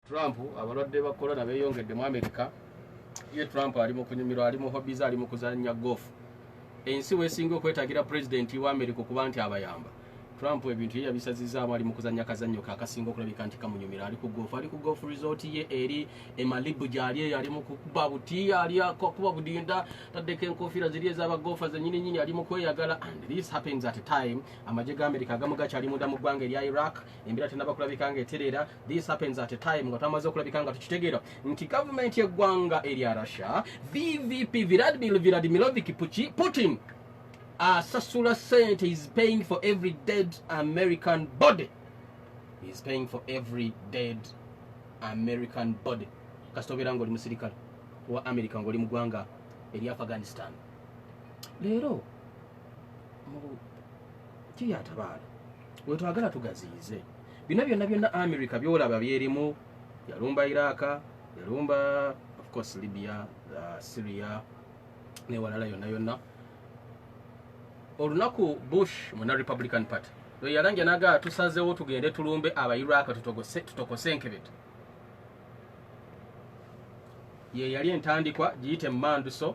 Trump abalwadde ba corona beyongedde mu America. Ye Trump ali mu kunyumirwa, ali mu hobbies, ali mu kuzannya golf. Ensi wesinga okwetagira president wa America okuba nti abayamba. Trump ebintu ye yabisazizaamu ali mu kuzannya kazannyo ke akasinga okulabika nti kamunyumira. Ali ku golf, ali ku golf resort ye eri e Malibu gy'ali eyo, ali mu kukuba buti, ali akuba budinda, taddeko enkofiira ziri ez'aba golfa zennyini nnyini, ali mu kweyagala and this happens at a time amagye ga America agamu gakyali munda mu ggwanga erya Iraq. embeera tenaba kulabika nga etereera this happens at a time nga twamaze okulabika nga tukitegeera nti gavumenti yeggwanga erya russia vvp viradmil viradmilovic puki putin asasula sente is paying for every dead american body is paying for every dead american body kasita obeera nga oli musirikale wa america nga oli mugwanga eri afghanistan leero mu kiyatabaala wetwagala tugaziyize bino byonna byonna america byolaba byerimu yalumba iraka yalumba ofcourse libya uh, syria newalala yonna yonna olunaku bush muna republican party lweyalanja naga tusazewo tugende tulumbe abairaka tutokose enkebete yeyali entandikwa giyite mumanduso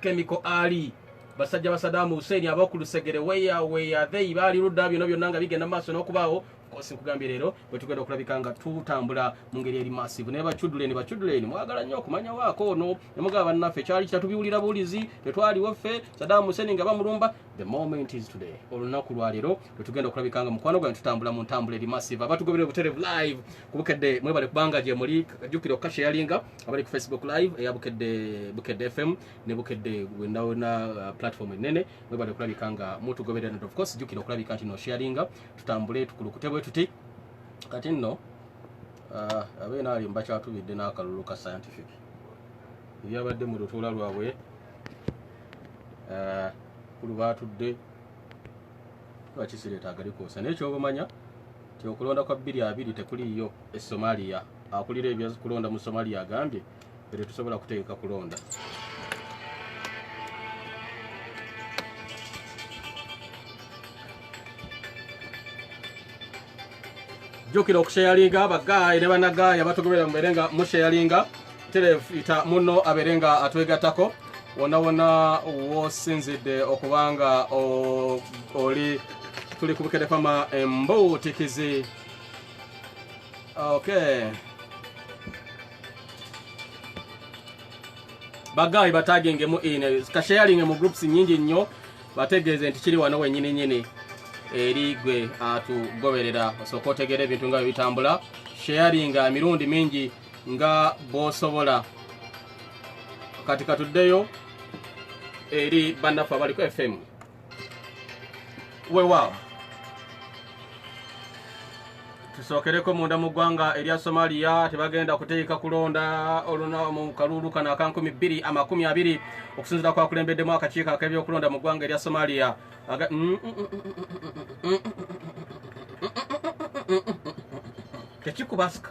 kemiko ali basajja ba sadamu huseini abakulusegere weya weya they baali ludda byona byonna nga bigenda maaso n'okubaawo kosi nkugambye leero bwe tugenda okulabika nga tutambula mu ngeri eri masivu naye bacuduleni bacuduleni mwagala nnyo okumanya waako ono nemugaba bannaffe kyali kitatubiwulira buwulizi tetwaliwo ffe sadamu huseini nga bamulumba the moment is today olunaku lwaleero lwetugenda okulabika nga mukwano gwange tutambula mu ntambula eri masivu abatugobera obuterevu live kubukedde mwebale kubanga gyemuli jukira okukasha eyalinga abali ku facebook live eya bukedde bukedde fm ne bukedde wenawena uh, platform enene mwebale kulabika nga mutugoberera nti of course jukira okulabika nti no sharinga tutambule tukulukute bwe tuti kati nno uh, abeena ali mbakyatubidde n'akalulu ka scientific ebyabadde mu lutuula lwabwe uh, kulu batudde lwakisireeta agalikuusa naye kyobamanya nti okulonda kwa bbiri abiri tekuliiyo e somaliya akulira ebyakulonda mu somaliya agambye ere tusobola kutegeka kulonda jukira okusheyalinga abagayi ne banagayi abatugobera mubere nga musheyalinga terevu ita muno abeere nga atwegattako wonna wonna wosinzidde okubanga oli tuli ku bukedefama embuutikizi okay bagayi batagingemu in kasharinge mu groups nyingi nnyo bategeeze nti kiri wano wenyini nyini eri gwe atugoberera osooka otegeera ebintu nga bye bitambula sharinga emirundi mingi nga bwosobola kati katuddeyo eri bannaffe abaliko fm wewaawo tusookereko munda mu ggwanga erya somaliya tebagenda kuteeka kulonda oluna mu kaluulu kano aka 2 amakumi abiri okusinzira kwakulembeddemu akakiiko ak'ebyokulonda mu ggwanga erya somaliya tekikubasika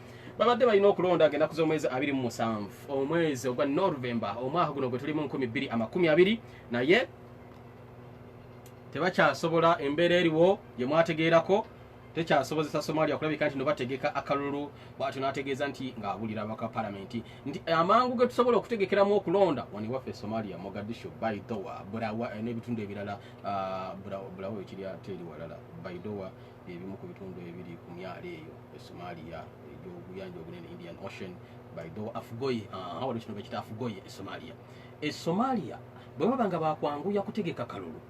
babadde balina okulonda agenda kuza omwezi abiri mu musanvu omwezi ogwa novemba omwaka guno gwe tuli mu nkumi bbiri amakumi abiri naye tebakyasobola embeera eriwo gye mwategeerako tekyasobozesa somalia kulabika nti nobategeka akalulu bwatyo nategeeza nti ngaabulira abaka palamenti nti amangu ge tusobola okutegekeramu okulonda wani waffe somalia mogadisho baidowa bulawa eh, n'ebitundu ebirala ah, bulawa ekiri ate eri walala baidowa ebimu ku bitundu ebiri ku myalo eyo e somalia egyobuyanja obunene indian ocean baido afugoye awali kino bekita afugoye e somalia e somalia bwe baba nga bakwanguya kutegeka kalulu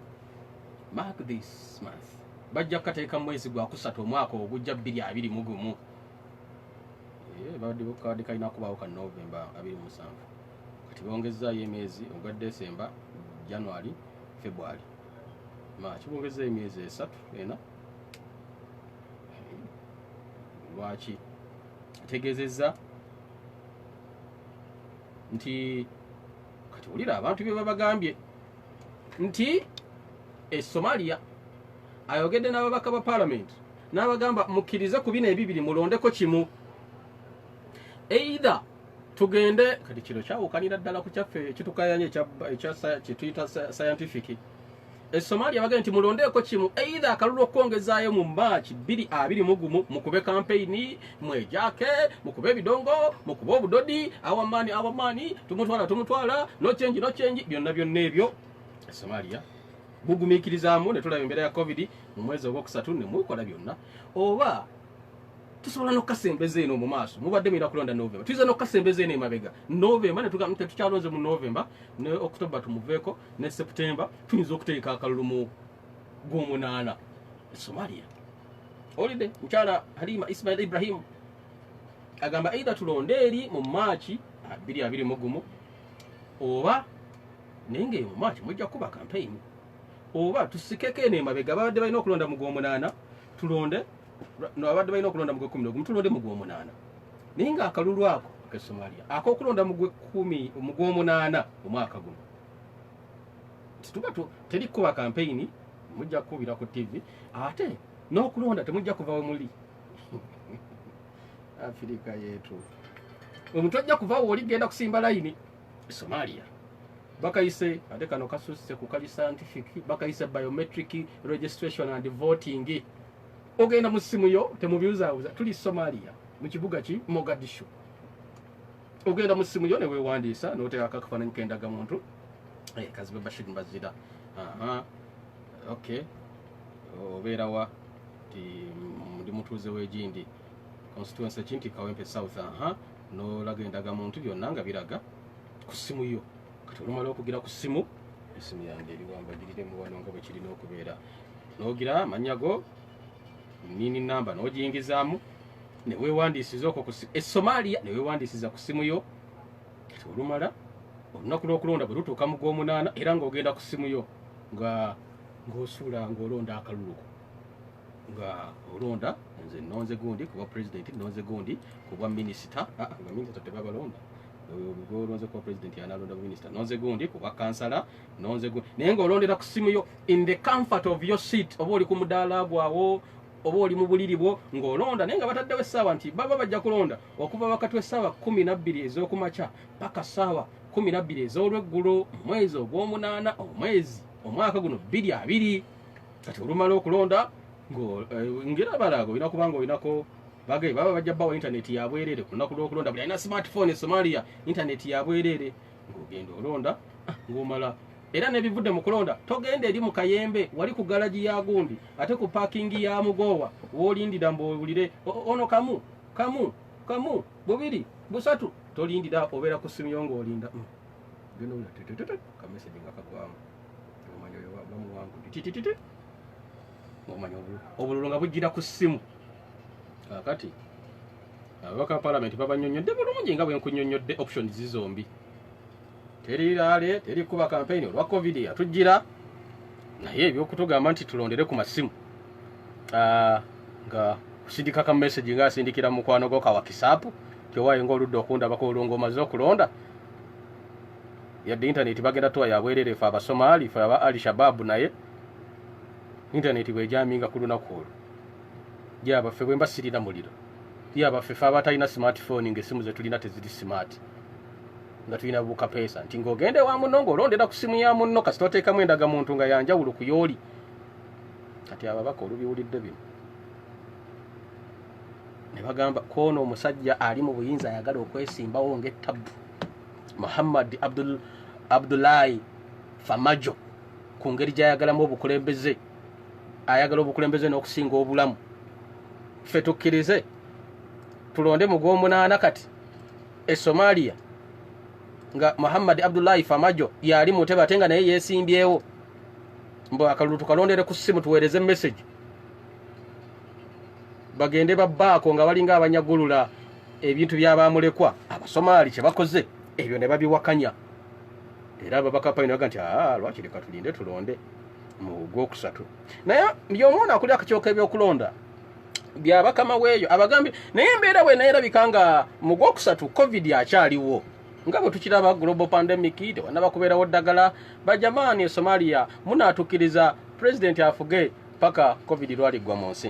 mark this month bajja kukateeka mu mwezi gwa kusatu omwaka ogujja bbiri abiri mu gumu babadde kalina kubaawo ka novemba abiri musanvu kati bongezaayo emyezi ogwa desemba january february ma kibongeza emyezi esatu ena lwaki ategezeza nti kati wulira abantu bye babagambye nti e somalia ayogedde n'ababaka ba palamenti n'abagamba mukkirize ku bino ebibiri mulondeko kimu either tugende kati kino kyawukanira ddala ku kyaffe kitukayanya kyetuyita scientific esomalia bagee nti mulondeeko kimu eitha akalulu okukwongezaayo mu maaki bbiri abiri mugumu mukube kampeyini mwejake mukube ebidongo mukube obudodi awamaani awamaani tumutwala tumutwala nokyengi nokyengi byonna byonna ebyo esomalia bugumiikirizaamu netulaba embeera ya covid mu mwezi ogwokusatu nemukola byonna oba tusobola nokukasembeza eno mu maaso mubadde mulina kulonda novemba tuyinza nokukasembeza eno emabega novemba netugamu tetukyalonze mu novemba ne okutobba tumuveeko ne septemba tuyinza okuteeka akalulu mu gwomunaana e somalia olide mukyala halima ismail ibrahimu agamba eidha tulonde eri mu maaki abiri abiri mugumu oba naye ngaeyo mu maaki mujja kukuba kampeyini oba tusikeko eno emabega babadde balina okulonda mu gwomunaana tulonde no abadde balina okulonda mu gwekumi nogumu tulonde mu gwomunaana naye nga akalulu ako ke somalia akokulonda mu gwekumi mu gwomunaana omwaka guno tituba teri kukuba kampeyini mujja kukubira ku tv ate n'okulonda temujja kuva we muli afirika yetu omuntu ajja kuva wooli genda kusimba layini somalia bakayise ate kano kasusse ku kali scientific bakayise biometric registration and voting ogenda mu ssimu yo temubyuzawuza tuli somalia mu kibuga ki mogadishu ogenda mu ssimu yo newewandiisa noteekako akafaananyi kendaga muntu eh, kazibe bashir mbazira ok obeera wa ti ndi mutuuze wegindi constituency ki nti kawempe south aha nolaga endaga muntu byonna nga biraga ku ssimu yo kati olumala okugira ku ssimu esimu yange eriwambagiriremu wano nga bwekirina okubeera n'ogira amannya go nini namba n'ogiyingizaamu ne weewandiisiza okwo ku essomaaliya ne weewandiisiza ku ssimu yo kati olumala olunaku lw'okulonda bwe lutuuka mu gw'omunaana era ng'ogenda ku ssimu yo nga ng'osuula ng'olonda akalulu ko nga olonda nze nonze gundi kuba president nonze gundi kuba minister ah, nga minister tebabalonda olonze kuba president yanalonda minister nonze gundi kuba kansala nonze gwe naye ng'olondera ku simu yo in the comfort of your seat oba oli ku mudaala gwawo oba oli mu buliri bwo ng'olonda naye nga bataddewo essaawa nti baba bajja kulonda okuva wakati w'essaawa kumi nabbiri ez'okumakya paka ssaawa kumi nabbiri ez'olweggulo omwezi ogw'omunaana omwezi omwaka guno bbiri abiri kati olumala okulonda eh, ngera balaaga olina kuba nga olinako bagae baba bajja bawa intaneti yabwereere ku lunaku lw'okulonda buli alina smartphone e somalia intaneti yabwereere ogenda olonda ah, ng'omala era nebivudde mu kulonda togenda eri mu kayembe wali ku galagi ya gundi ate ku pakingi ya mugoowa wolindira mbuwulire ono kamu kamu kamu bubiri busatu tolindira obeera ku simu yo ngaolinda mm. kameseji nga kagwamu omanyi oyo bamuwangu titititi ngomanya obululu nga bujjira ku ssimu kakati ababaka palamenti babanyonyodde bulungi nga bwenkunyonyodde option zi zombi teri laale teri kuba kampeyini olwa covid yatujjira naye ebyokutugamba nti tulondere ku masimu ah, nga kusindika ka message nga asindikira mukwano gwo kawa kisaapu kyowaye nga oludde okundabako olunga omaze okulonda yadde intaneti bagenda tuwa yabwerere fe abasomaali fe aba ali shababu naye intaneti bwejaminga ku lunaku olwo gyabaffe bwemba sirina muliro gyabaffe fe abatalina smartphone ngaesimu zetulina teziri smart nga tulina bukapeesa nti ngaogenda ewa munno ngaolondera ku simu ya munno kasita oteekamu endaga muntu nga yanjawulo ku yooli kati ababaka olubiwulidde bino ne bagamba koono omusajja ali mu buyinza ayagala okwesimbawo ngaettabu muhammad abdulayi famajo ku ngeri gy'ayagalamu obukulembeze ayagala obukulembeze n'okusinga obulamu ffe tukkirize tulonde mu gw'omunaana kati e somaliya nga muhammadi abdullahi famajo yali mu ntebe ate nga naye yeesimbyewo mbu akalulu tukalondere ku ssimu tuweereze message bagende babbaako nga balinga abanyagulula ebintu byabamulekwa abasomaali kye bakoze ebyo ne babiwakanya era ababaka payina baga nti aa lwaki leka tulinde tulonde mu gwokusatu naye yomwona akuli akakyoka ebyokulonda byabakama weeyo abagambye naye embeera bwenayerabika nga mu gwokusatu covid akyaliwo nga bwe tukiraba global pandemic tewanaba kubeerawo ddagala bajamaani e somalia munaatukkiriza pulezidenti afuge paka covid lwaliggwa mu nsi